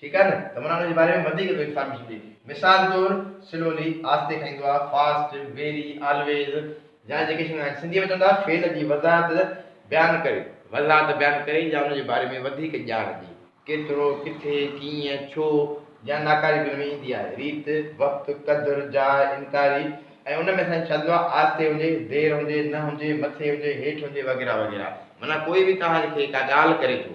ٺيڪ آهي نه ته ورهاڱي جي باري ۾ وڌيڪ به انفارميشن ڏي مثال طور سلولي آهستي کائيندو آهي فاسٽ ويري آلويز جا جيڪي شيون آهن سنڌي ۾ چوندا فعل جي وضاحت بيان ڪري وضاحت بيان ڪري جا ان جي باري ۾ وڌيڪ ڄاڻ ڏي. ڪيترو ڪٿي ڪيئن ڇو جا ناڪاري به ان ۾ ايندي آهي ريت وقت قدر جاء انڪاري ۽ ان ۾ سائين ڇا ٿيندو آهي آهستي هجي دير هجي نه هجي مٿي هجي هيٺ هجي وغيره وغيره معنيٰ ڪوئي به توهان کي ڪا ڳالهه ڪري ٿو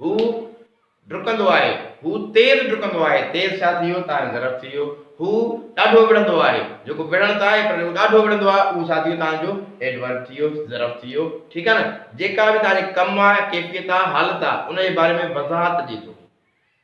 هو ڊڪندو آهي. هو تيز ڊڪندو آهي. تيز ڇا ٿي ويو؟ تان جو ظرف ٿي ويو. هو ڏاڍو وڙهندو آهي. جيڪو وڙهڻ ته آهي پر جيڪو ڏاڍو وڙهندو آهي اهو ڇا ٿي ويو؟ تان جو ايڊورب ٿي ويو، ظرف ٿي ويو. ٺيڪ آهي نه؟ جيڪا به تان جي ڪم آهي، ڪيفيت آهي، حالت آهي، ان جي باري ۾ وضاحت ڏي ٿو.